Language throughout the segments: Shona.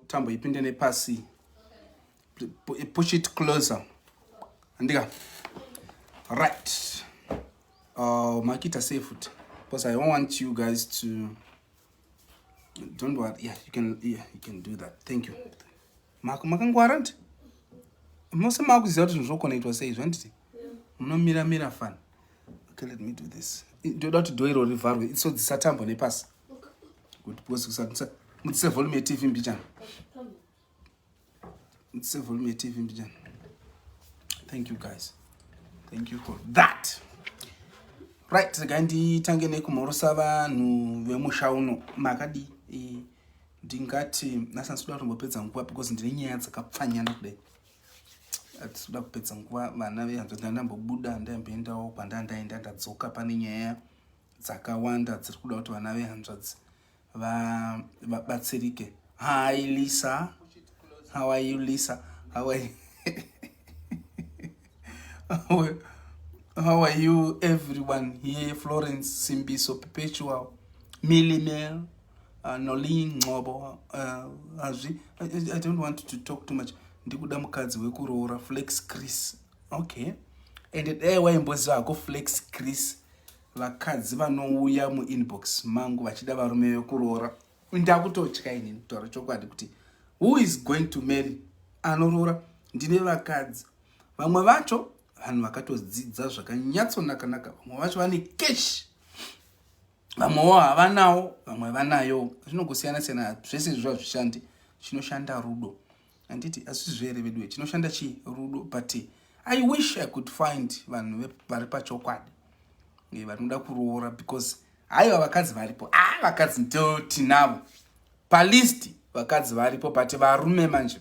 tambo ipinde nepasi push it closer andika right uh, makita sei futi because i don't want you guys to don't worry yeah you can yeah you can do that thank you makangwara nti mose maakuziva kuti zvinhu zvokonaitwa sei zvanditi munomira mira fani okay let me do this ndoda kuti dho iro rivharwe so dzisatambo nepasi kuti pose kusati mutsise volume yetv mbichana mutsise volume yetv mbichana thank you guys thank you for that right regai nditange nekumhorosa vanhu vemusha uno makadii eh, ndingati nasa ndisikuda kutombopedza nguva because ndine nyaya dzakapfanyana kudai atikuda kupedza nguva vana vehanzvadzi ndandambobuda ndaimboendawo kwandaa ndaenda ndadzoka pane nyaya dzakawanda dziri kuda kuti vana vehanzvadzi vabatsirike hi lisa how are you lisa how are you how are you everyone here florence simbiso perpetual millimel uh, nolin ncobo uh, hazvi uh, I, i don't want to talk too much ndikuda mukadzi wekuroora flex chris okay and dai waimboziva hako flex chris vakadzi vanouya muinbox mangu vachida varume vekuroora ndakutotya inini kutaura chokwadi kuti who is going to marry anoroora ndine vakadzi vamwe vacho vanhu vakatodzidza zvakanyatsonakanaka vamwe vacho vane cash vamwewo havanawo vamwe vanayo zvinongosiyana siyana zvese zviva zvishandi chinoshanda rudo handiti hazvisizvo here veduwe chinoshanda chii rudo but i wish i could find vanhu vari pachokwadi eh, vari kuda kuroora because haiva vakadzi varipo a ah, vakadzi ndotinavo palist vakadzi varipo but varume manje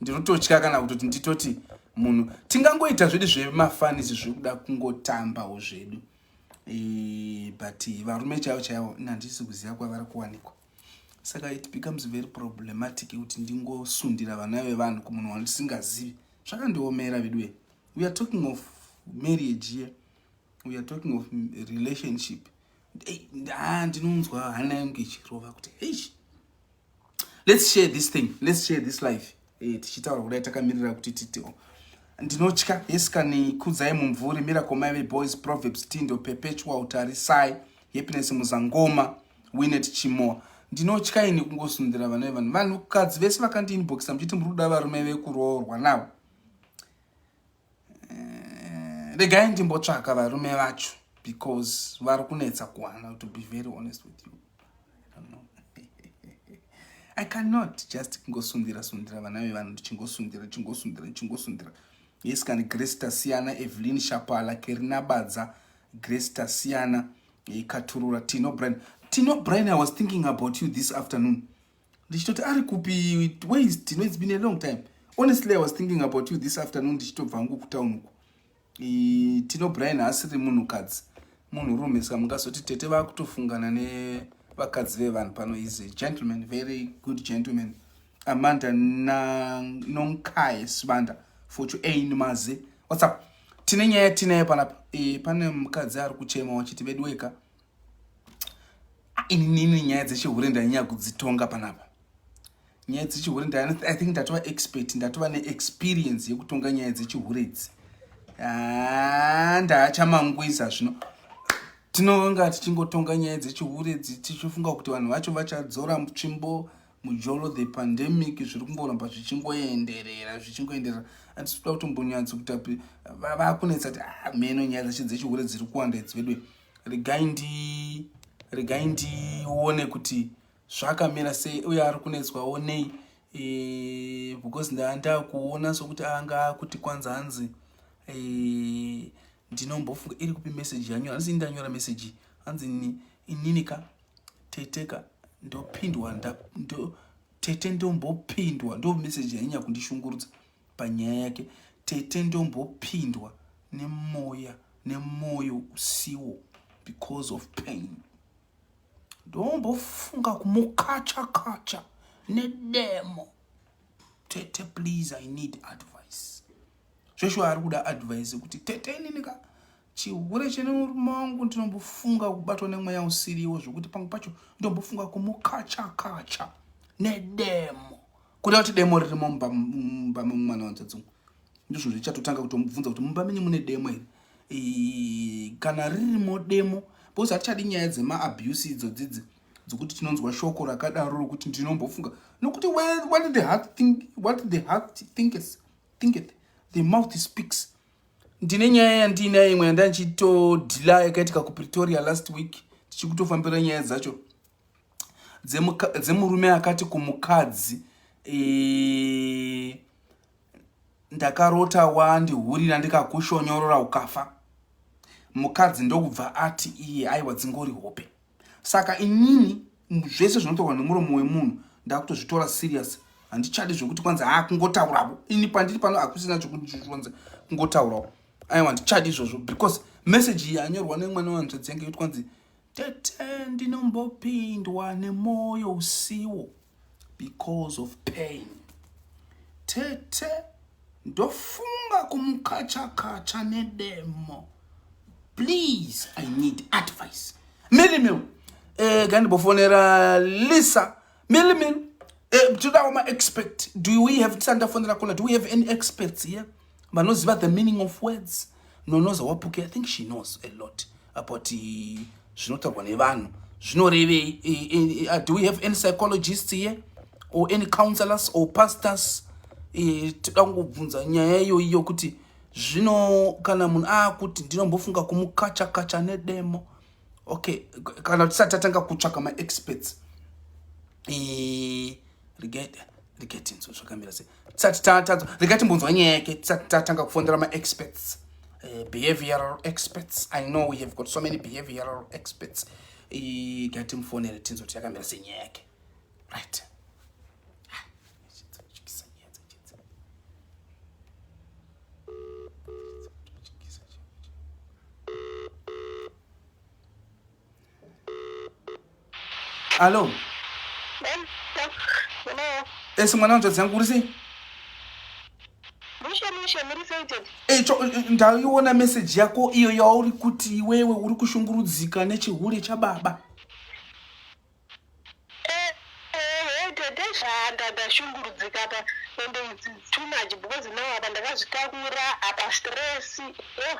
ndinototya kana kutoti nditoti munhu tingangoita zvedu zvemafanisi zvekuda kungotambawo zvedu eh, but varume chaivo chaivo nandisi kuziva kwavari kuwanikwa saka it becomes very problematic kuti ndingosundira vana vevanhu kumunhu wandisingazivi zvakandiomera veduwe we are talking of marriage here we are talking of relationship ah, ndinonzwa hana yangu ichirova kuti hey let's share this thing let's share this life e, tichitaura kudai takamirira kuti titio ndinotya yesikani kudzai mumvuri miracle maive boys proverbs tindo perpetual tarisai happiness muzangoma winet chimoa ndinotya ini kungosundira vana vevanhu vanhukadzi vese vakandiinboxa muchiti muri kuda varume vekuroorwa navo eh, regai ndimbotsvaka varume vacho because vari kunetsa kuwana to be very honest with you i cannot just kungosundira sundira vana vevanhu ndichingosundira ndichingosundira ndichingosundira yes kani grace tasiyana evelyn shapala kerinabadza grace tasiyana ikaturura tino brin tino brin i was thinking about you this afternoon ndichitoti ari kupi ways tino it's been a long time honestly i was thinking about you this afternoon ndichitobva ngu kutown uku tino brian haasiri munhukadzi munhurume ska mungazoti tete vakutofungana nevakadzi vevanhu pano is a gentleman very good gentleman amanda nonkaye sibanda fochu ain mazi whatsapp tine nyaya tinayo panapa e, pane mukadzi ari kuchema wachiti veduweka ah, inini nyaya dzechihure ndanyanya kudzitonga panapa nyaya dzechihure i think ndatova expert ndatova neexperience yekutonga nyaya dzechihure idzi ah, ndaachamangwiza zvino tinonga tichingotonga nyaya dzechihure tichifunga kuti vanhu vacho vachadzora tsvimbo mujolo the pandemic zviri kungoramba zvichingoenderera zvichingoenderera atisiuda kutombonyatso kuti vakunetsa kuti ah, meno nyaya dzacho dzechihure dziri kuwanda idzi vedwe regai ndi regai ndione kuti zvakamira sei uye ari kunetswawo nei e, because ndaandakuona sokuti anga akuti kwanza hanzi e, ndinombofunga iri kupi meseji yanyora hanzi ndanyora meseji hanzi ininika teteka ndopindwa ndo, tete ndombopindwa ndo meseji yainya kundishungurudza panyaya yake tete ndombopindwa nemoya nemoyo usiwo because of pain ndombofunga kumukacha kacha nedemo tete please i need advice joshua ari kuda advice yekuti tete inini ka chihure chine murume wangu ndinombofunga kubatwa nemweya usiriwo zvekuti pamwe pacho ndombofunga kumukacha kacha nedemo Kuda kuti demo ririmo mumba mumba memwana wanzadzungu. Ndizvo zvichatotanga kutomubvunza kuti mumba menyu mune demo here? E, kana ririmo demo because hatichadi nyaya dzema abuse idzo dzidzi dzokuti tinonzwa shoko rakadaro rokuti ndinombofunga nokuti what the heart think what the heart thinketh thinketh the mouth speaks ndine nyaya yandiinayo imwe yandanichitodhila yakaitika kupretoria last week tichikutofambira nyaya dzacho dzemurume akati kumukadzi e, ndakarota wandihurira ndikakushonyorora ukafa mukadzi ndokubva ati iye aiwa dzingori hope saka inini zvese zvinotorwa nemuromo wemunhu ndakutozvitora serious handichadi zvekuti kwanzi haa kungotaurawo ini pandiri pano hakusina chekuronza kungotaurawo aiwa handichadi izvozvo because message iyi yanyorwa nemwana wanzvadzi yange yoti kwanzi Tete ndinombopindwa nemoyo usiwo because of pain. Tete ndofunga kumukachakacha nedemo. Please, I need advice. Milimil, eh, gandibofonera Lisa. Milimil, eh, todawo ma expect. Do we have tisandafonera kuna? Do we have any experts here? Yeah? vanoziva the meaning of words nonoza wapuke i think she knows a lot about eh, zvinotaurwa nevanhu zvinorevei eh, eh, do we have any psychologists here or any counselors or pastors toda kungobvunza nyaya iyoiyo kuti zvino kana munhu aakuti ndinombofunga kumukachakacha nedemo okay kana tisati tatanga kutsvaka maexperts regetinso zvakamira sei tisati tatadza rega timbonzwa nyaya yake tisati tatanga kufondera maexperts uh, behavioral experts i know we have got so many behavioral experts gatimufonere tinzo kuti yakamira senyaya yake right Alo. Esi mwana wanzvadzi yangu uri sei? Mushe mushe muri sated. Eh cho ndaiona message yako iyo yauri kuti iwewe uri kushungurudzika nechihure chababa. Eh eh tete zvanda ndashungurudzika pa ende it's too much because now apa ndakazvitakura apa stress. Oh.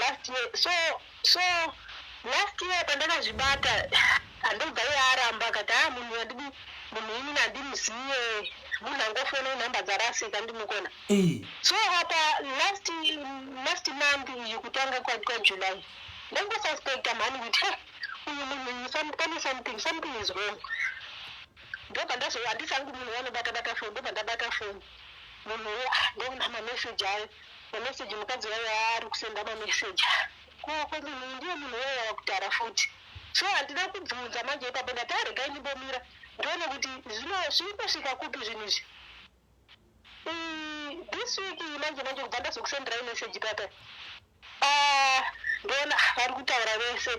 last year so so last year pandakazvibata andobva iye aramba akati haa munhu andidi munhu inini andimuziye munhu angofona inhamba dzarasika ndimukona so apa last last month iyi kutanga kwajuly ndangosuspecta mhani kuti he uyu munhu pane something something is wrong ndobva ndazohandisangu munhu wanobata bata foni ndobva ndabata foni munhu wo ah, ndoona mameseji ayo Mamessage mukadzi wayo aari kusenda mamessage ko ko munhu uyu ndiye munhu wayo wakutara futi so handina kubvunza manje ipapo ndati aregai ndimbomira ndione kuti zvino zviri kusvika kupi zvinhu izvi Mm, this week iyi manje manje kubva ndazokusenderai message papa Ah, ndona vari kutaura vese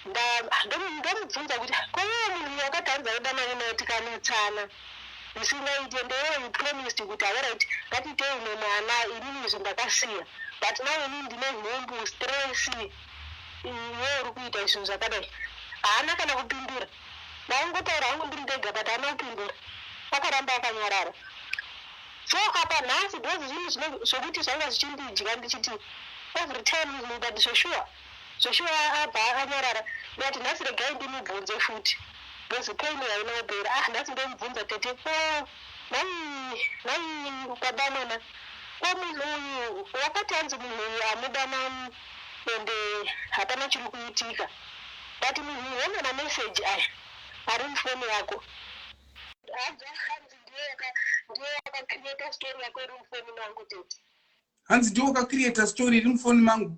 Nda- ndomu- ndomubvunza kuti koiwe munhu uyu wakatadza kuda mari mai tikanetsana zvisingaite ndeiwe you promised kuti alright ngatitei umwe mwana inini izvi ndakasiya but now inini ndine nhumbu stress iwe uri kuita zvinhu zvakadai haana kana kupindura ndaingotaura hangu ndiri ndega but haana kupindura akaramba akanyarara so apa nhasi those zvinhu zvokuti zvanga zvichindidya ndichiti every time but zveshuwa Zveshuwa abva anyarara ndati nhasi regai ndimubvunze futi because pain haina kupera. Ah nhasi ndomubvunza tete ko nhai nhai baba mwana ko munhu uyu wakati hanzi munhu uyu hamuda mani ende hapana chiri kuitika but munhu uyu hona mameseji aya ari mufoni yako abva hanzi ndiye yaka ndiye yakacreata story yako iri mufoni mangu tete hanzi ndiye wakacreata story iri mufoni mangu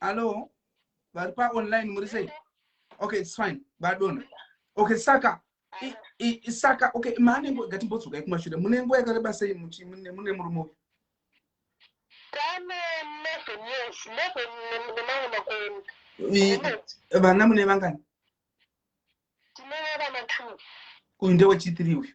Hello. Vari pa online muri sei? Okay, it's fine. Vadona. Okay, saka i, i, saka okay, mane ngo ngatimbodzoka kumashure. Mune nguva yakareba sei muchi mune mune murume uyu? Kane mese yes, mese nemamwe makoni. Vana mune vangani? Tine vana two. Uyu ndewe chitiri uyu.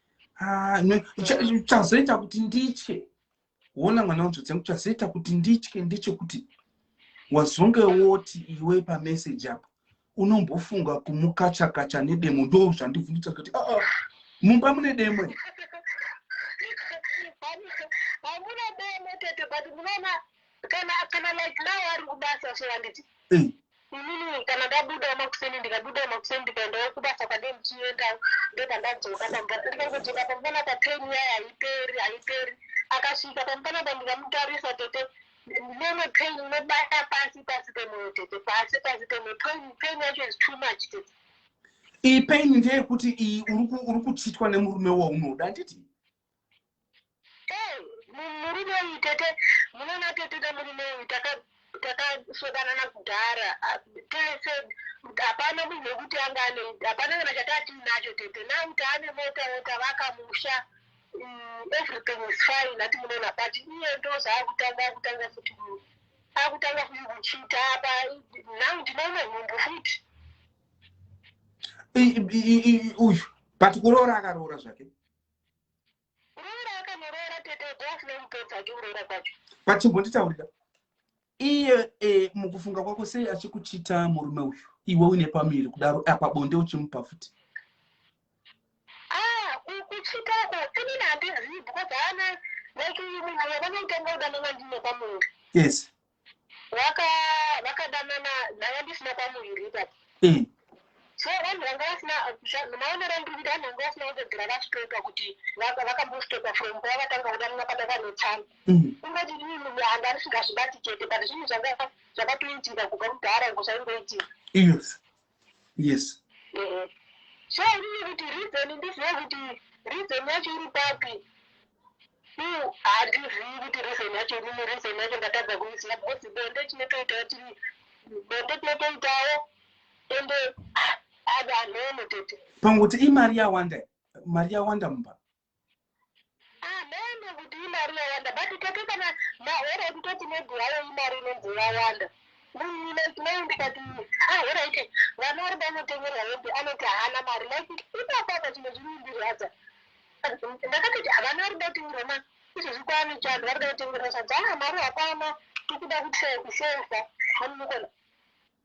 Ah, chazoita kuti nditye wona mwana wanzodzi yangu chazoita kuti nditye ndechekuti wazonge woti iwe pameseji apo unombofunga kumukachakacha nedemo ndo zvandivhunditsa kuti ah, ah, mumba mune demo hamuna demo tete but munoona kana kana like now ari kubasa so handiti eh. Inini kana ndabudawo makuseni ndikabudawo makuseni ndikaendawo kubasa kwandee ndichiendawo ndopandadzoka pamvana ndikangodzoka pamvana pa pain yaye haiperi haiperi akasvika pamvana pa ndikamutarisa tete nene pain inobata pasi pasi pemoyo tete pasi pasi pemoyo pain pain yacho is too much tete iyi pain ndeyekuti iyi uri kuchitwa nemurume waunoda handiti Hey, mu- murume uyu tete munoona tete nemurume uyu taka- takasvodanana kudhara Ah, Tee said kuti hapana munhu wekuti anga ane hapana kana chatatiinacho tete now taane mota tavaka musha Mm, everything is fine ati munoona but iye ndozvaakutanga akutanga futi ku- akutanga futi kuchita apa now ndinoona nhumbu futi I- i- i- i- uyu but kuroora akaroora zvake pachimbonditaurira iye e, mukufunga kwako sei achikuchita murume uyu iwe uine pamiri kudaro apa bonde uchimupa futi ah, kuchitako inini handizivi because haana like uyu munhu yavanoitanga kudanana ndine pamuri yes vaka vakadanana ndanga ndisina kwamuviri ipapo Mm. so vanhu vanga vasina zva- maonero andiri kuita vanhu vanga vasina kutogera vastokwa kuti vaka- vakambostokwa from pavakatanga kudanana pada vanetsana Mm. kungoti ii munhu anga risingazvibati chete but zvinhu zvanga zvakatoitika kubva kudhara ngosaingoitika Yes. yes so inini kuti reason ndizive kuti reason yacho iri papi u handizivi kuti reason yacho inini reason yacho ndatadza kuiziva because bonde tinotoitawo tiri bonde tinotoitawo ende ah, ave anono tete pangu kuti imari yawanda mari yawanda mumba Hameno kuti imari yawanda but tete kana mahora ekutoti maybe hayo imari inonzi yawanda munhu like mai ndikati ahora iti vana vari vanotengerwa hembe anoti haana mari like ipapapa chimwe zvinondirwadza ndakatoti havana vari vatengerwa ma izvezvi kwaane chando vari vatengerwa sadza aa mari hapana tikuda kutsaya kuseva hanimukona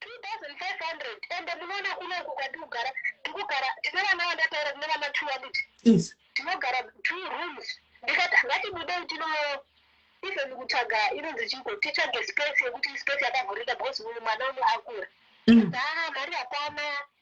2500 ende munoona kuno uku kwatikugara tikugara tine vana vandataura kune vana two vadiki tinogara two rooms ndikati ngatibudei tino even kutsvaga inonzi chiko titsvage space yekuti space yakavhurika because uyu mwana uno akura mm. haa mari hapana mm.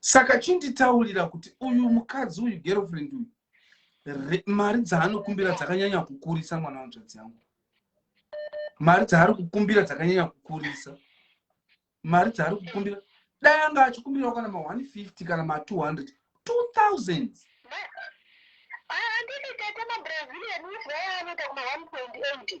saka chinditaurira kuti uyu mukadzi uyu girlfriend uyu mari dzaanokumbira dzakanyanya kukurisa mwana wanzvadzi yangu mari dzaari kukumbira dzakanyanya kukurisa mari dzaari kukumbira dai anga achikumbirawo kana ma 150 kana ma 200 2000 andini tete mabrazilian uzivayaanoita kuma 1.8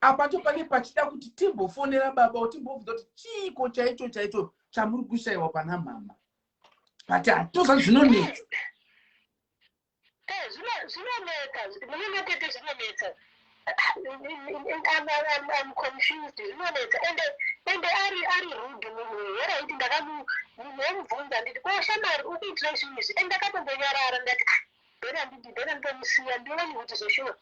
apacho pane pachida kuti timbofonera baba o timbobvunza kuti chiiko chaicho chaicho chamuri kushayiwa pana mhama but hatoza zvinonetsa eh, zvinonetsa munematete zvinonetsa I'm confused zvinonetsa ende ende ari ari rude munhu here aiti ndakamu munhu omubvunza nditi ko shamari ukuitira izvinhu izvi ende ndakatombonyarara ndati ah, Then andidi then nditomusiya ndione kuti zveshuwa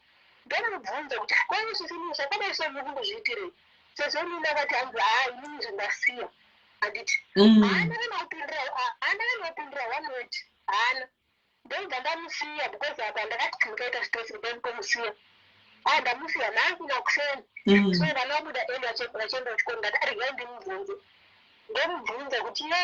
ndomubvunza kuti ko zvisinei zvakadai so muri kundozviitirei sezvo inini akati hanzi haa inini zvandasiya handiti Mm. haana kana kupindira haana kana kupindira one word haana ndobva ndamusiya because apa ndakati kana kaita stress kudai nditomusiya haa ndamusiya nhasi nakuseni Mm. so vana vabuda eli vachienda kuchikoro ndati arigai ndimubvunze ndomubvunza kuti ye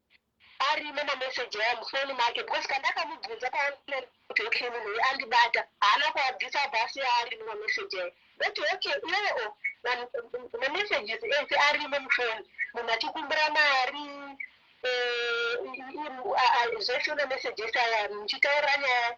arimo mameseji aya mufoni make because kandakamubvunza paonline kuti okay munhu uyu andibata haana kuabvisa abva asiya arimo mameseji aya ndoti okay iwewe o mamessages ese arimo mufoni munhu achikumbira mari eh, zvese mameseji ese aya muchitaura nyaya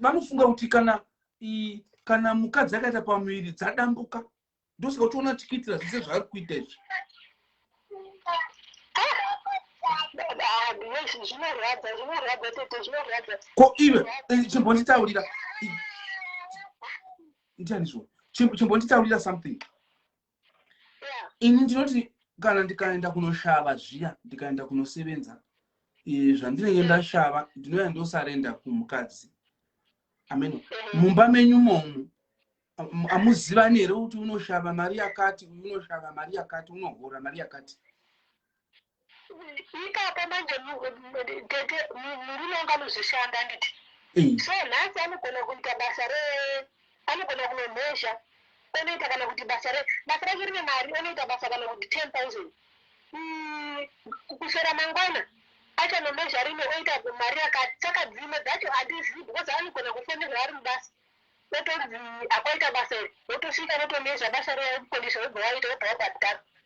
vanofunga kuti kana i, kana mukadzi akaita pamuviri dzadambuka ndosaka uchiona tichiitira zvese zvaari kuita izvi ko iwe eh, chimbonditaurira ndianizvo chimbonditaurira something ini ndinoti kana ndikaenda kunoshava zviya ndikaenda kunosevenza zvandinenge ndashava ndinouya ndosarenda kumukadzi amen mumba menyu momu amuzivani here kuti unoshava mari yakati uyu unoshava mari yakati unohora mari yakati ipapo manje mu- mu- tete mu- murume wangu anozvishanda handiti Mm. so nhasi anogona kuita basa re anogona kunomhezha onoita kana kuti basa re basa rake rine mari onoita basa kana kuti ten thousand Mm, ku- kuswera mangwana achanomhezha rimwe oita mari yakati saka dzimwe dzacho handizivi because anogona kufonerwa ari mubasa otonzi akwaita basa iri wotosvika wotomhezha basa reya wokukonesa wobva waita wobva wabhadhara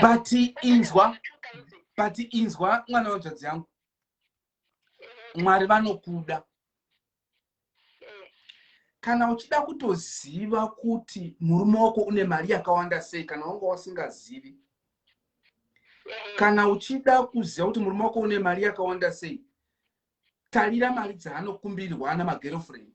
but inzwa but inzwa mwana wanzvadzi yangu mwari vanokuda kana uchida kutoziva kuti murume wako une mari yakawanda sei kana wanga wasingazivi kana uchida kuziva kuti murume wako une mari yakawanda sei tarira mari dzaanokumbirwa ana magerofriend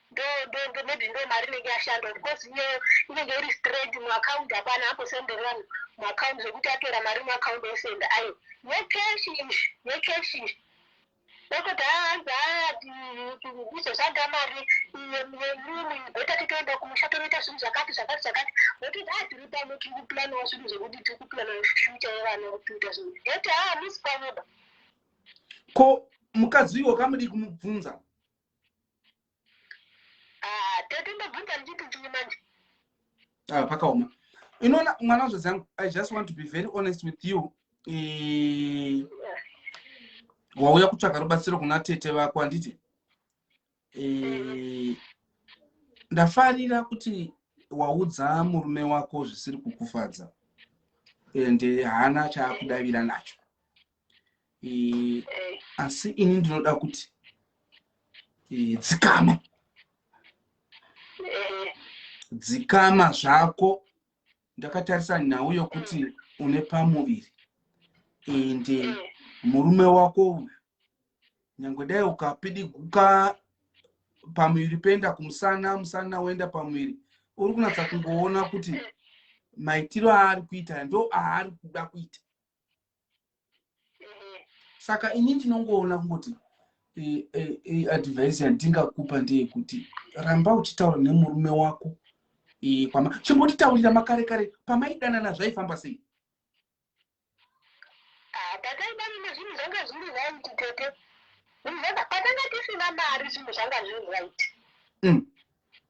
ndo ndo ndo maybe ndo mari inenge yashanda because iyeyo inenge iri straight muaccount hapana ambosenderi vanhu muaccount zvekuti atora mari muaccount osenda ayo yecash ish yecash ish ndokuti haanzi izoshanda mari yerumu beta titoenda kumusha tonoita zvinhu zvakati zvakati zvakati ndokuti a tiri pano tiri kuplanawo zvinhu zvekuti tiri kuplanawo future yevana kuita zvinhu ndokuti ha musi panoba ko mukadzi uyo wakamudii kumubvunza Ah, tete ndobvunza ndichiti chii manje ah, pakaoma inoona mwana wazvadzi yangu i just want to be very honest with you e... wauya kutsvaga rubatsiro kuna tete vako handiti e... ndafarira kuti waudza murume wako zvisiri kukufadza ende haana chaakudavira nacho eh, asi ini ndinoda kuti eh, dzikama eh. dzikama zvako ndakatarisa nhau yokuti mm. une pamuviri ende eh, eh. murume wako uyu nyange dai ukapidiguka pamuviri penda kumusana musana woenda pamuviri uri kunatsa kungoona kuti maitiro aari kuita ndo aari kuda kuita saka ini ndinongoona kungoti advice yandingakupa ndeyekuti ramba uchitaura nemurume wako kwama chimbotitaurira makare kare pamaidanana zvaifamba sei ah, pataidanana zvinhu zvanga zviri right tete patanga tisina mari zvinhu zvanga zviri right mm.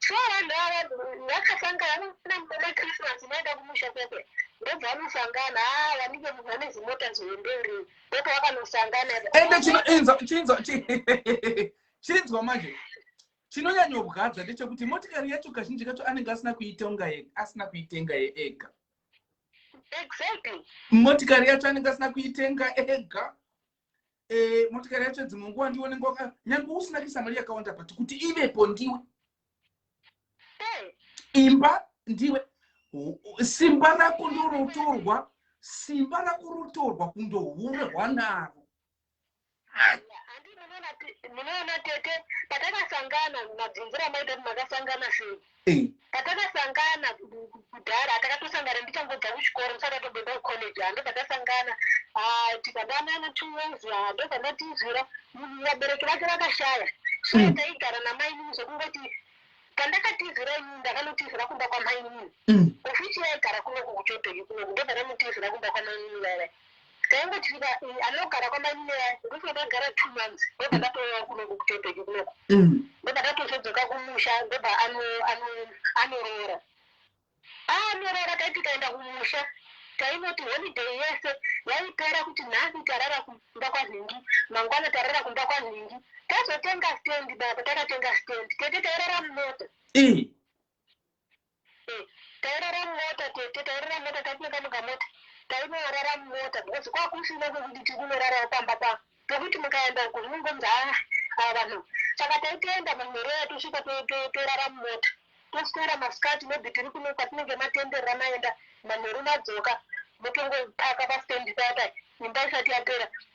So vanhu ava vakasangana namukoma Christmas vaenda kumusha kwake ndobva vanosangana haa vanike munhu ane zimota zvienderi ndobva vakanosangana ende chinoinzwa chinzwa chinzwa manje chinonyanyobwadza ndechekuti motikari yacho kazhinji kacho anenge asina kuitonga asina kuitenga yeega exactly motikari yacho anenge asina kuitenga ega eh, motikari yacho dzimwe nguva ndiwe unenge waka nyange usina kuisa mari yakawanda but kuti ivepo ndiwe imba ndiwe simba rako ndorotorwa simba rako rotorwa kundohurehwa naro munoona tete patakasangana mabvunzira maita kuti makasangana sei Hey. patakasangana kudhara takatosangana ndichangobva kuchikoro ndisati atobenda kucollege ha ndobva tasangana tikadanana two years ha ndobva ndatizvira vabereki vake vakashaya so mm. taigara namainini zvekungoti pandakatizira inini ndakanotizira kumba kwamainini mm. ofici yaigara kunoku kuchotoi kunoku ndobva namutizira kumba kwamainini vairai Tainge tiri ba eh, anogara kwamainini yangu ndokuti ndakagara two months ndobva ndatouya kunoku kutembeki kunoku Mm. ndobva ndatozodzoka kumusha ndobva ano- ano- anoroora anorora tai tikaenda kumusha tainoti holiday yese yaipera kuti nhasi tarara kumba kwanhingi mangwana tarara kumba kwanhingi tazotenga stand baba takatenga stand tete tairara mumota Ii. Tairara mumota tete tairara mumota taitenga mukamota tainorara mumota because kwakusina kwekuti tiri kunorarawo pamba pa pekuti mukaenda uko zvinongonzi haa haa vanhu saka taitoenda manhereya tosvika torara mumota toswera masikati maybe tiri kuno kwatinenge matenderera maenda manheru madzoka motongopaka pastand paya paya imba isati yapera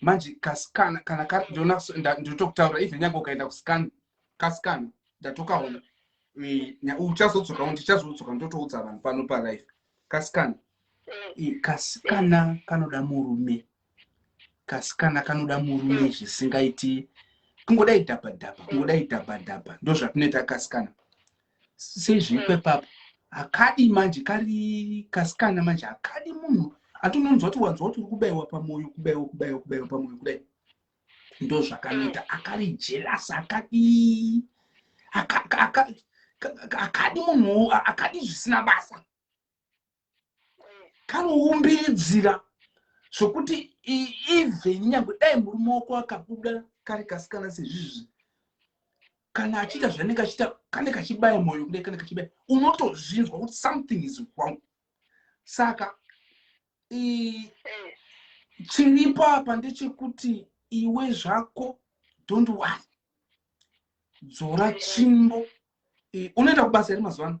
manje kasikana kana ndotokutaura even nyange ukaenda kusikana kasikana ndatokaona uchazodzoka uno tichazodzoka ndotoudza vanhu pano palife kasikana kasikana kanoda murume kasikana kanoda murume zvisingaiti kungodai dhabhadhabha kungodai dhabhadhabha ndozvatinoita kasikana sezviko ipapo hakadi manje kari kasikana manje hakadi munhu atononzwa kuti wanzwa kuti uri kubaiwa pamoyo kubaiwa kubaiwa kubaiwa pamoyo kudai ndo zvakanoita akari jelasi akadii akadi munhu akadi zvisina basa kanoumbiridzira zvokuti even nyangwe dai murume wako akabuda kari kasikana sezvizvi kana achiita zvanenge achiita kane kachibaya mwoyo kudai kane kachibaya unotozvinzwa kuti something is wrong saka chiripo apa ndechekuti iwe zvako don't wor dzora chimbo unoenda kubasa here mazuva ano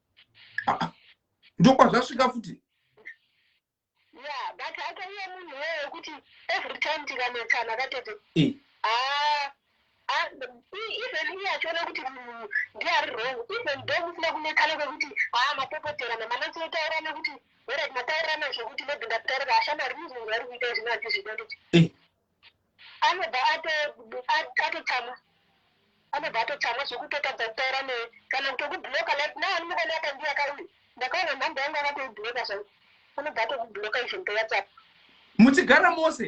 ndokwazvasvika futi ya but akaiye munhu weye wekuti every time tikanetsana katete eh. ah, ah, even iye achiona kuti munhu ndiye ari wrong even do musina kunetsana kwekuti haa ah, mapopoterana manatsotaurana kuti werati mataurirana zvekuti maybe ndataurira ashamari muzungu ari kuita izvino handizvida nditi eh. anobva atotsamwa anobva atotsamwa zvekutotadza kutaura neye kana kutokubloka like na ani mukona akandiya kauye ndakaona nhamba yangu akatoibloka zvai anobva atokubloka even to whatsapp muchigara mose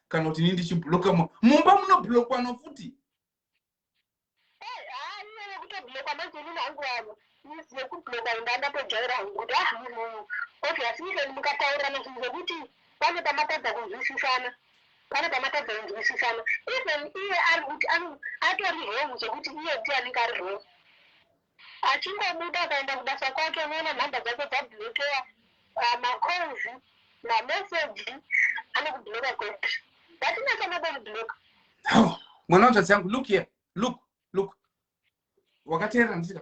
kana kuti ini ndichibloka mumba munoblokwa nokuti yekubloka inda ndatojaira hangu kuti ah munhu uyu obviously even mukataurirana zvinhu zvekuti pane pamatadza kunzwisisana pane pamatadza kunzwisisana even iye ari kuti atori wrong zvekuti iye ndiye anenge ari wrong Achingobuda akaenda kubasa kwake unoona number dzake dzablokewa ah, macalls mamessage anokubloka kwete vatinese nokubloka Hawu, mwana wetsvadzi yangu look here look look wakateerera ndisika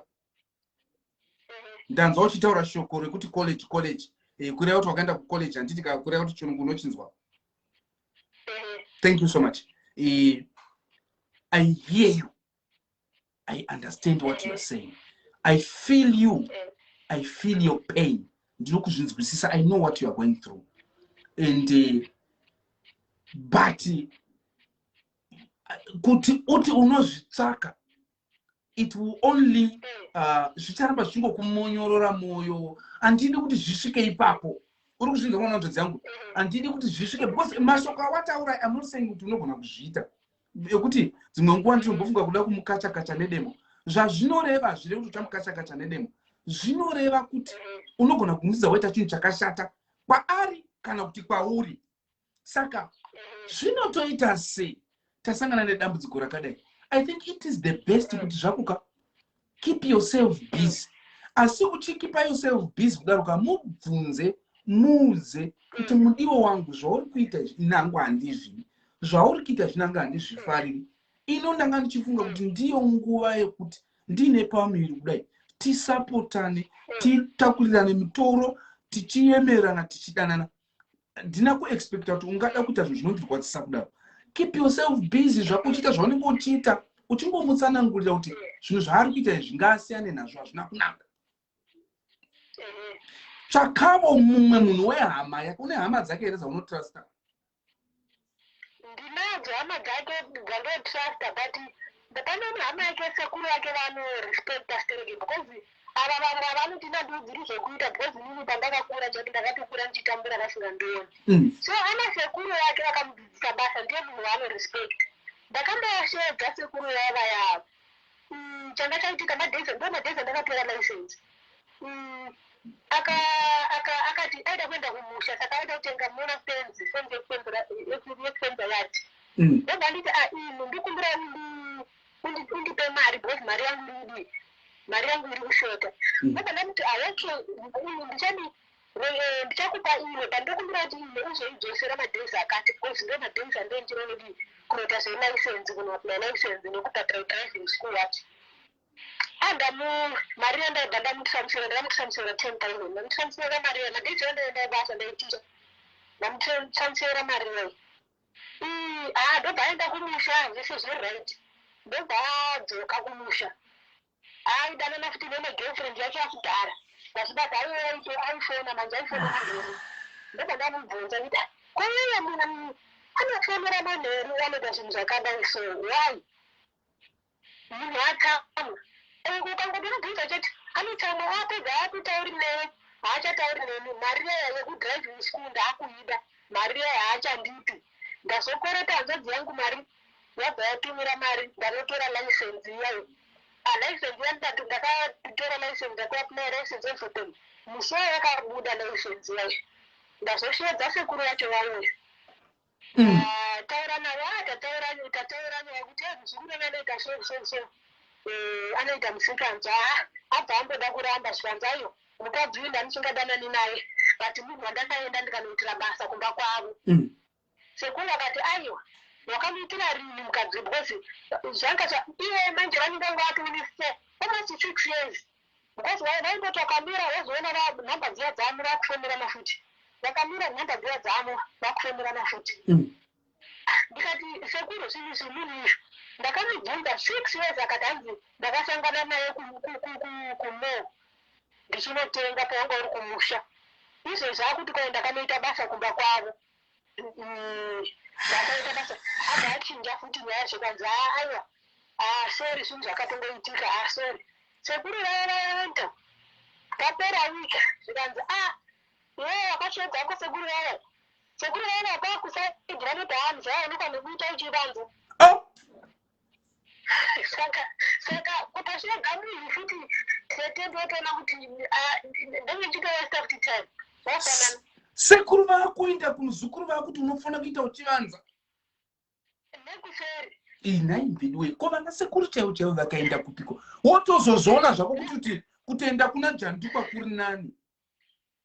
ndanzwa uchitaura shoko rekuti college college Eh, kureva kuti wakaenda kucollege handiti ka kureva kuti chirungu unochinzwa thank you so much Eh, i hear you i understand what youare saying i feel you i feel your pain ndinokuzvinzwisisa i know what youare going through and uh, but uh, kuti uti unozvitsvaka it will only uh, zvicharamba zvichingokumonyorora mwoyo handidi kuti zvisvike ipapo uri kuzvinza mwana nzodzi yangu handidi kuti zvisvike because mashoko awataura amoseng kuti unogona kuzviita yekuti dzimwe nguva ndinombofunga kuda kumukachakacha nedemo zvazvinoreva hazvireva kuti uchamukachakacha nedemo zvinoreva kuti unogona kumusiza waita chinhu chakashata kwaari kana kuti kwauri saka zvinotoita sei tasangana nedambudziko rakadai i think it is the best kuti zvakuka keep yourself busy asi uchikipa yourself busy kudaroka mubvunze muuze kuti mm. mudiwo wangu zvauri kuita inangu handizvidi zvauri kuita zvinanga handizvifariri ino ndanga ndichifunga kuti ndiyo nguva yekuti ndiine pamuviri kudai tisapotane mm. titakurirane mitoro tichiyemerana tichidanana handina kuexpecta kuti ungada kuita zvinhu zvinondirwadzisa kudaro keep yourself busy zvako uchiita zvaunenge uchiita uchingomutsanangurira kuti zvinhu zvaari kuita izvi ngaasiyane nazvo hazvina kunaka tsvakavo mumwe munhu wehama yako une hama dzake here dzaunotrusta Ndinadzo hama dzake dzando truster but pane imwe hama yake sekuru vake vano respecta stereki because ava vamwe avanoti nandiudziri zvekuita because inini pandakakura chati ndakatokura ndichitambura vasingandioni mm. so ana sekuru vake vakamudzidzisa basa ndiye munhu waano respect ndakamboyasheedza sekuru vaya vayavo Umm changa chaitika madays ndo madays andakatora license umm aka aka akati aida kuenda kumusha saka aida kutenga mona fenzi fenzi yekufenza yati mm. ndobva nditi a ah, inu ndikumbira undipe mari because mari yangu iridi mari yangu iri kushota mm. ndobva ndamuti aoke ah, ndichandiita Rue ndichakupa imwe but ndokumbira kuti imwe uzoidzosera madays akati because ndo madays andee ndichiro kudii kunoita zvelicense kunoapply license nekubhadhara driving school yacho andamu mari yandaibva ndamutransfera ndakamutransfera ten thousand ndamutransfera mari yayo madays yandaendaibaasa ndaiticha ndamutransfera mari yayo haa ndobva aenda kumusha zvese zviri right ndobva adzoka kumusha Aidanana futi nene girlfriend yake yakudhara vachibata aive aito aifona manje aifona manheru ndobva ndamubvunza kuti "Ah, ko iye munhu anofonera manheru anoita zvinhu zvakadai so why munhu atsamwa Uku ukangotomubvunza chete anotsamwa apedza aakutauri newe haachatauri neni mari iya yekudriving school ndaakuida mari iya haachandipi ndazokwereta hanzvadzi yangu mari Yabva yatumira mari vanotora license iya iyi ah, license iya ndikati ndakatora license ndakuapply license everything musi wayo yakabuda license iya iyi ndazosheedza sekuru vacho vauya mm. ah, taura navo ah, tataura tataura nyaya kuti ah, muzukuru anoita so so so eh, anoita musikanzwa abva amboda kuramba zvikanzayo mukadzi uyu ndanisingadanani naye but munhu wandakaenda ndikanoitira basa kumba kwavo mm. Sekuru vakati aiwa wakamuitira rinhi mukadzi because zvanga zva iye manje vanenge vanga vatove nefour almost six years because vai- vaingoti wakamira wozoona va- nhamba dziya dzamo vakufemerana futi vakamira nhamba dziya dzamo vakufemerana futi Mm. ndikati sekuru zvinhu izvi munhu izvo ndakamubvunza six years akati hanzi ndakasangana naye ku- ku- ku- ku- kumall ndichinotenga pawanga uri kumusha izvezvi akuti kwaenda kanoita basa kumba kwavo Ndakaita basa abva achinja futi nyaya zvikanzi haa aiwa haa sorry zvinhu zvakatongoitika haa sorry sekuru vaya vaya vento papera wika zvikanzi a iwewe wakasheedza ko sekuru vaya sekuru vaya vakakusaidi vanoti haa mzee aonekwa nekuita uchivanza saka saka kutosvega munhu futi tete ndotoona kuti ah, ndenge chitowaste futi time wafanana sekuru vakuenda kumuzukuru vakuti unofanira kuita uchivanza nekuseri inai mbidiwe ko vana sekuru chaivo chaivo vakaenda kupiko wotozozviona zvako kuti kuti kutenda kuna jandikwa kuri nani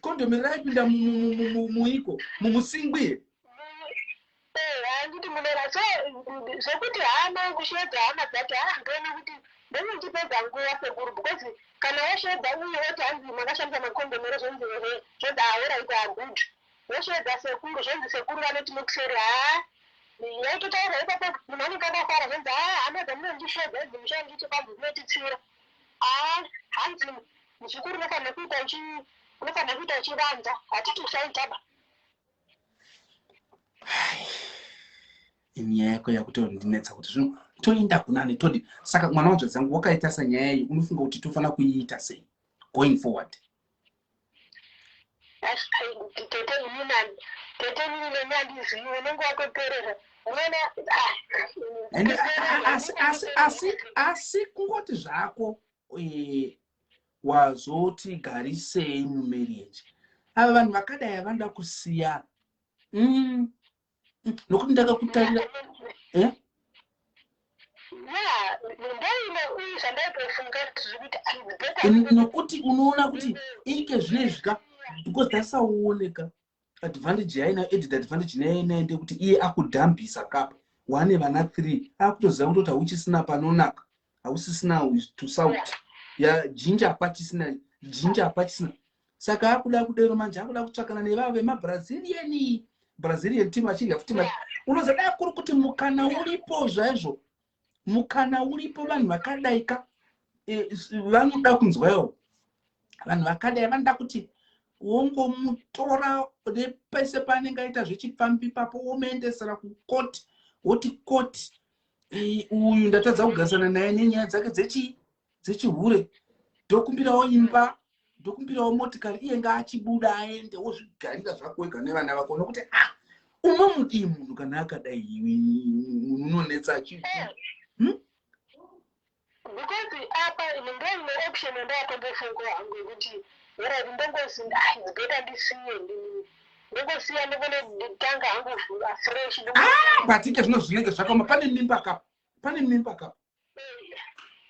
kondomi raipinda muiko mumusingwi here eh, handiti munera so zvekuti hama kusheedza hama dzacho haa ndoona kuti ndozvichipedza nguva sekuru because kana wosheedza uye woti hanzi makashandisa makondomi ere zvonzi ehe zvonzi ahora iko agud wosheedza sekuru zvonzi sekuru vanoti mukuseri haa yaitotaura ipapo munhu anenge akafara zvonzi haa hama dzamunondisheedza idzi mushandicho kwanzi dzinotitsiura haa hanzi Muzukuru unofanira kuita uchi unofanira kuita uchivanza hatiti usaitaba. nyaya yako yakutondinetsa kuti zvino toenda kunani todi saka mwana wanzvadzi yangu wakaita sanyaya iyi unofunga kuti tofanira kuiita sei going forward tete ini nani tete ini neni andizivi unenge watoperera unoona ah, asi asi asi asi kungoti zvako e, wazoti garisei mumarriage ava vanhu vakadai havanoda kusiyana mm. nokuti ndakakutarira eh? nokuti unoona kuti ike zvinezvika because tasaoneka advantage yainayo added advantage neyainayo ndekuti iye akudhambisa kapa wane vana three akutoziva kutoti hauchisina panonaka hausisina to south ya jinja hapachisina jinja hapachisina saka akuda kudero manje akuda kutsvakana nevavo vemabrazilian brazilian team achinge futi unozoda kuri kuti mukana uripo zvaizvo mukana uripo vanhu vakadaika e, vanoda kunzwawo vanhu vakadai vanoda kuti wongomutora nepese paanenge aita zvechipfambi ipapo womuendesera kukoti woti koti uyu ndatadza kugarisana naye nenyaya dzake dzechii dzechihure ndokumbirawo imba ndokumbirawo motikari iye ngaachibuda aende wozvigarira zvako wega nevana vako nokuti a ah, uma mudii munhu kana akadai munhu unonetsa chi eh. hmm? because apa ini ndoine option yandakambofunga hangu yekuti whatever ndongozi ai ndibeta ndisiye ndongosiya ndikone nditanga hangu afresh ah, but ike zvino zvinenge zvakoma pane mimba kapa pane mimba kapa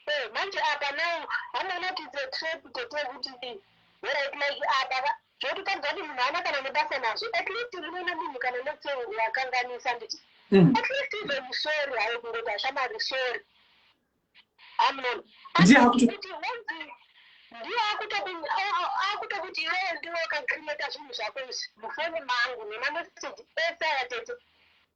Eeh manje apa now hameno kuti it's a trap tete kuti right like apa ka zvototadza kuti munhu haana kana nebasa nazvo at least rinoona munhu kana let's say wakanganisa nditi Mm. at least even sorry hayo kungoti ashamari sorry amunoni Ndiye akuto- kuti wenzi ndiye akutoku- a- a- akutokuti iwewe ndiwe wakacreata zvinhu zvako izvi mufoni mangu nemameseji ese aya tete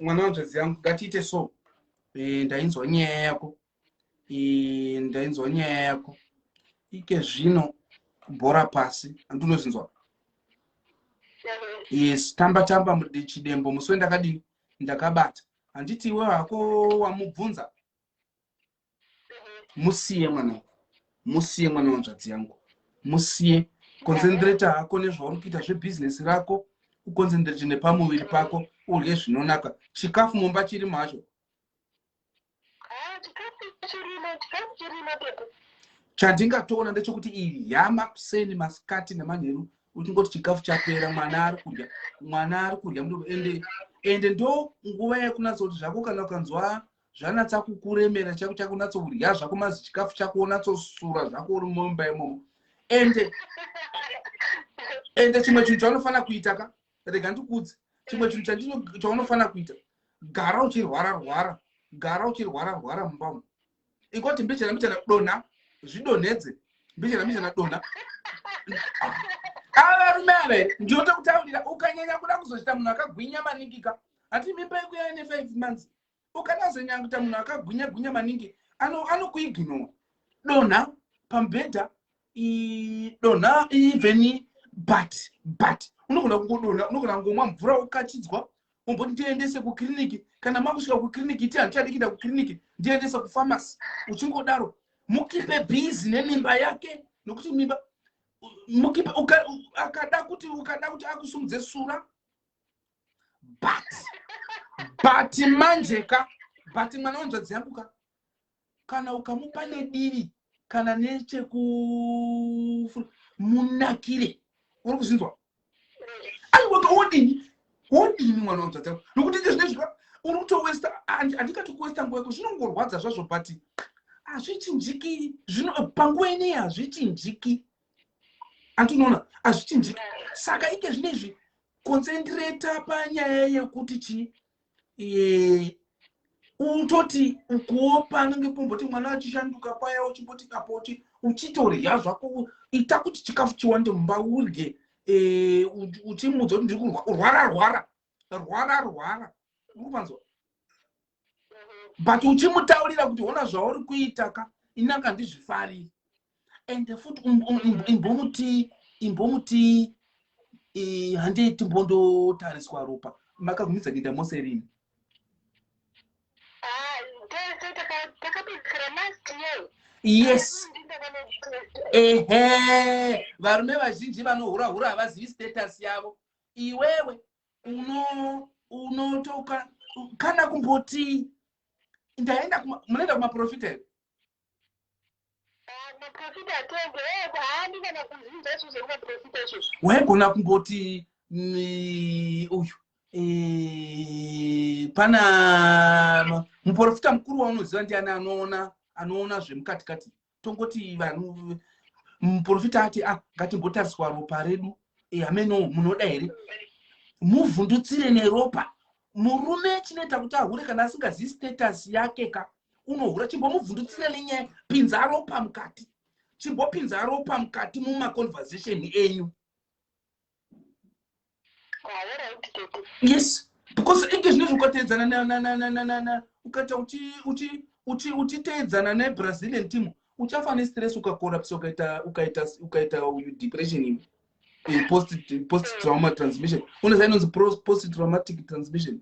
mwana wanzvadzi yangu ngatiite so Eh, ndainzwa nyaya yako Eh, ndainzwa nyaya yako ike zvino bhora pasi andinozinzwa yes tamba tamba mudi- chidembo musi wendakadini ndakabata handiti iwe hako wamubvunza musiye mwanangu musiye mwana wanzvadzi yangu musiye konzendireta hako nezvauri kuita zvebhizinesi rako ukonzendirete nepamuviri pako urye zvinonaka chikafu mumba chiri macho chandingatoona ndechekuti iyi yama kuseni masikati nemanheru uchingoti chikafu chapera mwana ari kudya mwana ari kudya ende ende ndo nguva yekunatsa kuti zvako kana ukanzwa zvanatsa kukuremera chako chako unatsourya zvako mazi chikafu chako unatsosura zvako uri mumba imomo ende ende chimwe chinhu chaunofana kuita ka rega ndikudzi chimwe chinhu chandino chaunofana kuita gara uchirwara rwara gara uchirwara rwara mumba umu ikoti mbichana mbichana dona zvidonhedze mbichana mbichana dona avarume ah, ava here ndinoto kutaurira ukanyanya kuda kuzochita munhu akagwinya maningika hati mimba yekuya ine five months ukanazonyanguta munhu akagwinya gwinya maningi anokuiginowa ano donha pamubhedha donha even but but unogona kungodonha unogona kungomwa mvura wokachidzwa umboti ndiendese kukiriniki kana makusvika kukiriniki iti handichadikida kukiriniki ndiendese kufamasi uchingodaro mukipe bhizi nemimba yake nokuti mimba mukipe akada kuti ukada kuti akusumudze sura but but manje ka but mwana wanzvadzi yangu ka kana ukamupa nediri kana necheku munakire uri kuzvinzwa aiwaka wodini wodini mwana wanzvadzi yangu nokuti nde zvine zvika uri kutowesta handikati kuwesta nguva yako zvinongorwadza zvazvo but hazvichinjiki zvino panguva inei hazvichinjiki anti unoona hazvichinjiki saka ike zvine izvi konsendireta panyaya yekuti chii e, utoti ukuopa anenge pomboti mwana achishanduka paya uchimboti kapoti uchitorya zvako ita kuti chikafu chiwande mumba urye e, uchimudza kuti ndiri kurwara rwara rwara rwara ukupanzwa but uchimutaurira kuti hona zvauri kuita ka inaka ndizvifariri ende futi um, um, um, imbomuti imbomuti handei timbondotariswa ropa makagumidza kuita mose rini ah, yes ehe varume vazhinji vanohura hura havazivi status yavo iwewe unotoka uno kana kumboti ndaenda munoenda kumaprofita here waigona kumboti uyu eh, pana muprofita mukuru waunoziva ndiani anoona anoona zvemukati kati tongoti vanhu muprofita ati a ah, ngatimbotariswa ropa redu hameno eh, munoda here muvhundutsire neropa murume chinoita kuti ahure kana asingazivi status yake ka unohura chimbomuvhundutsire nenyaya pinza ropa mukati chimbopinza ropa mukati mumaconversation enyu yes because inge zvinezvi ukateedzana nananananana ukaita uchiteedzana nebrazilian team uchafa nestress ukakorapsa ukaita ukaita ukaita depression iwe post post mm. trauma transmission unoziva inonzi post traumatic transmission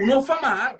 unofa mahara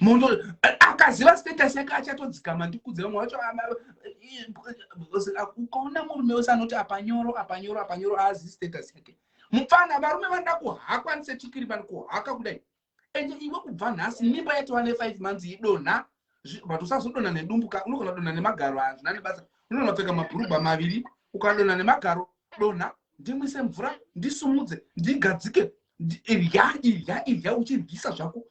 munhu akaziva status yake achatodzikama ndikudze vamwe vacho ukaona murume wese anoti apanyoro apanyoro apanyoro aazi status yake mupfana varume vanoda kuhakwa ndisetikiri vani kuhaka kudai and iwe kubva nhasi mimba yatova nefive months idonha but usazodona nedumbu ka unogona kudona nemagaro hazvina nebasa unonopfeka mabhurugwa maviri ukadona nemagaro dona ndimwise mvura ndisumudze ndigadzike irya irya irya uchiryisa zvako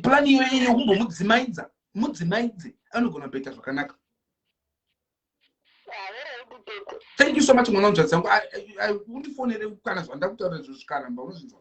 plani iyoyo yekumbomudzimaidza mudzimaidze anogona kuita zvakanaka thank you so much mwana wanzvadzi yangu undifonere kana zvandakutaura izvo zvikaramba unozvinzwa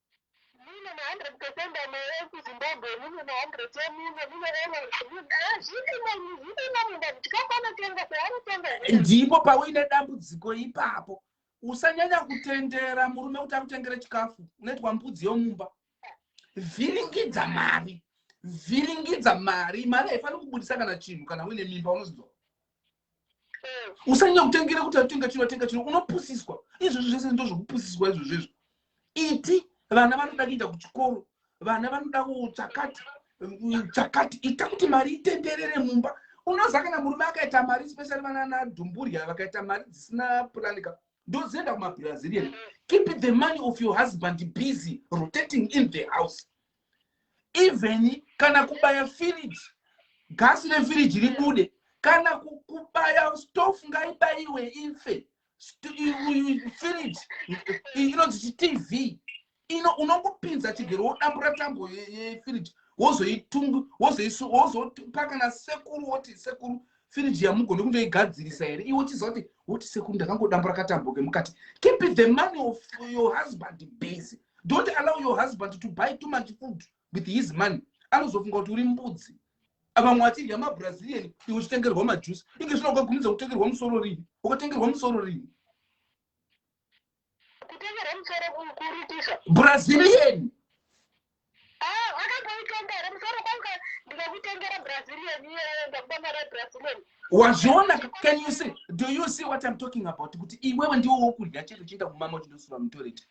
Mune ma 100 percent amai eku Zimbabwe, mune ma 100 emune, mune errors, mune ah, zvirimo imi, zvirimo munda kuti chikafu anotenga sei anotenga here? ndipo pauine dambudziko ipapo usanyanya kutendera murume kuti akutengere chikafu unoitwa mbudzi yomumba vhiringidza mari vhiringidza mari mari haifaniri kubudisa kana chinhu kana uine mimba unozidzwa usanyanya kutengera kuti atenga chino atenga chino unopusiswa izvozvo zvese ndo zvokupusiswa izvozvo izvo iti vana vanoda kuenda kuchikoro vana vanoda kuchakati chakati ita kuti mari itenderere mumba unoziva kana murume akaita mari specially vana nadhumburya vakaita mari dzisina puranika ndozienda kumabrazilian keep the money of your husband busy rotating in the house even kana kubaya firiji gasi refiriji ribude kana kubaya stof ngaibayiwe ife firiji inonzi chitv ino unongopinza chigero wodambura tambo yefiriji wozoitungu wozopakana sekuru woti sekuru firiji yamugone kundoigadzirisa here iwe uchiziva kuti woti sekuru ndakangodambura katambo kemukati keep the money of your husband busy don't allow your husband to buy too much food with his money anozofunga kuti uri mbudzi vamwe vachidya mabrazilian iwe uchitengerwa majuice inge zvino ukagumidza kutengerwa musoro rini ukatengerwa musoro rini brazilian ah, wazviona can you see do you see what i'm talking about kuti iwewe ndiwo wokudya chete uchienda kumama uchindosura mutoreti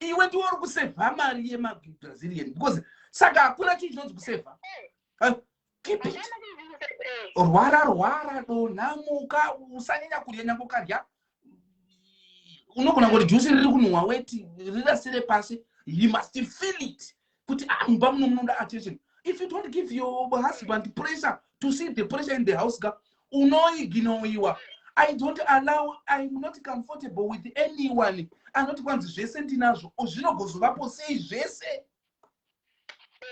iwe ndiwe uri kusevha mari yemabrazilian because saka hakuna chii chinonzi kusevha eh, keep it rwara rwara donha muka usanyanya kudya nyange ukadya unogona kuti jusi riri kunhuhwa weti rirasire pasi you must feel it kuti ah mumba muno munoda attention if you don't give your husband pressure to see the pressure in the house ka unoiginoiwa i don't allow iam not comfortable with anyone anoti kwanzi zvese ndinazvo zvinogozovapo sei zvese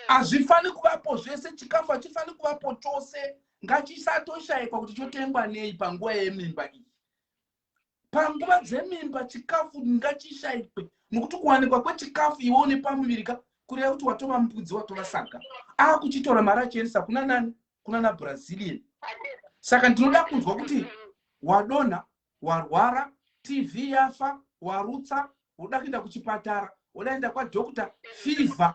hazvifaniri kuvapo zvese chikafu hachifaniri kuvapo chose ngachisatoshaikwa kuti chotengwa nei panguva yemimba iyi panguva dzemimba chikafu ngachishaikwe nokuti kuwanikwa kwechikafu iwe une pamuviri ka kureva kuti watova mbudzi watova saka akuchitora mari achiendesa kuna nani kuna na brazilian saka ndinoda kunzwa kuti wadonha warwara tv yafa warutsa woda kuenda kuchipatara wodaenda kwadokta fever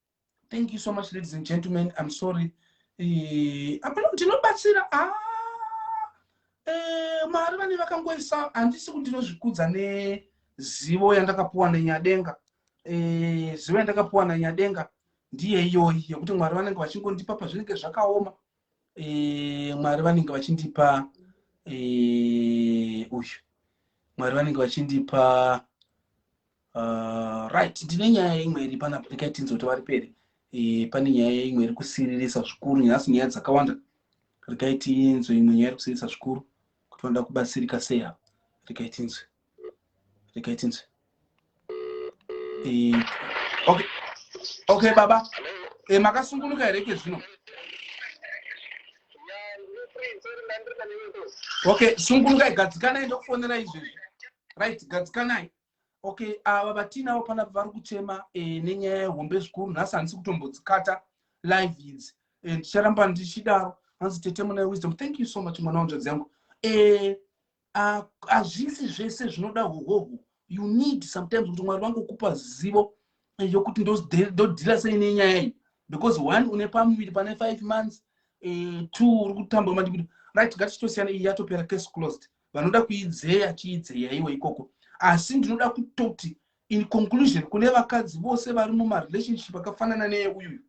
thank you so much ladies and gentlemen i'm sorry eh, hapana kuti ndinobatsira ah, eh, mari vane vakangoisa handisi kuti ndinozvikudza nezivo yandakapuwa nenyadenga eh, zivo yandakapuwa nanyadenga ndiye iyoyi yekuti mwari vanenge vachingondipa pazvinenge zvakaoma e, mwari vanenge vachindipa e, uyu mwari vanenge vachindipa uh, right ndine nyaya imwe iri panapo ndikaitinzi kuti vari peri e, pane nyaya imwe iri kusiririsa zvikuru nhasi nyaya dzakawanda rikaitinzwe imwe nyaya iri kusiririsa zvikuru kuti vanoda kubatsirika sei ava rikaitinzwe regai tinzwe eh, okay okay baba e, makasungunuka here ke zvino okay sungunukai gadzikanai ndokufonera izvezvi right gadzikanai okay ava uh, vatiinavo panapa vari kuchema e, nenyaya yehombe zvikuru nhasi handisi kutombodzikata live idzi ndicharamba e, ndichidaro hanzi tete muna wisdom thank you so much mwana wanjodzi yangu e, hazvisi zvese zvinoda hohoho you need sometimes kuti mwari vangokupa zivo yokuti ndodhira sei nenyaya iyi because one une pamuviri pane five months eh, two uri kutamba mandikuti right ngatitosiyana iyi yatopera case closed vanoda kuidzeya chiidzeya iwe ikoko asi ndinoda kutoti in conclusion kune vakadzi vose vari mumarelationship akafanana neye uyuyu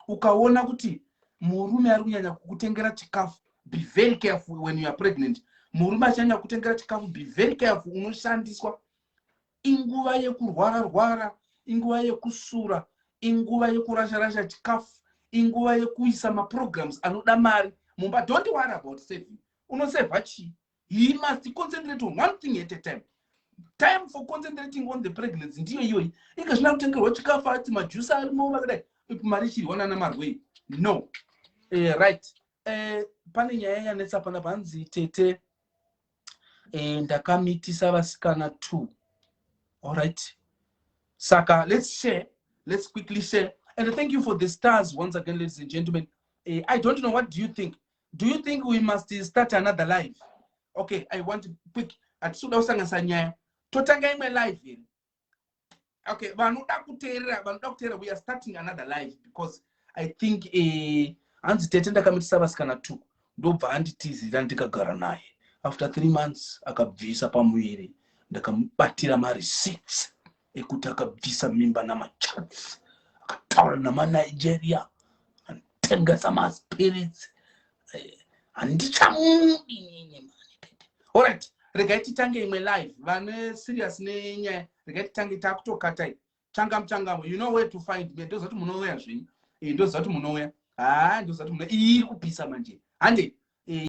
ukaona kuti murume ari kunyanya kukutengera chikafu be very careful when you are pregnant murume achinyanya kukutengera chikafu be very careful unoshandiswa inguva yekurwara rwara inguva yekusura inguva yekurasha rasha chikafu inguva yekuisa maprograms anoda mari mumba don't worry about saving unosevha chii he must concentrate on one thing at a time time for concentrating on the pregnancy ndiyo iyoyi inge zvina kutengerwa chikafu ati majusi arimo vakadai mari ichirwa nana marwei no uh, right uh, pane nyaya yanetsa pana panzi tete uh, ndakamitisa vasikana two allright saka let's share let's quickly share and thank you for the stars once again ladies and gentlemen uh, i don't know what do you think do you think we must start another life okay i want quick hatisi kuda kusanganisa nyaya totanga imwe life here okay vanoda kuteerera vanoda kuteerera we are starting another life because i think eh, hanzi uh, tete ndakamitisa vasikana two ndobva anditizira ndikagara naye after three months akabvisa pamuviri ndakamubatira mareceipt ekuti akabvisa mimba namachats akataura namanigeria atengesa maspirits eh, handichamudi nyinyi mani tete orit regai titange imwe live vane serious nenyaya regai titange takutokatai changamu changamu you know where to find me ndoziva kuti munouya zvenyu eh, ndoziva kuti munouya haa ah, ndoziva kuti munouya iri kupisa manje handei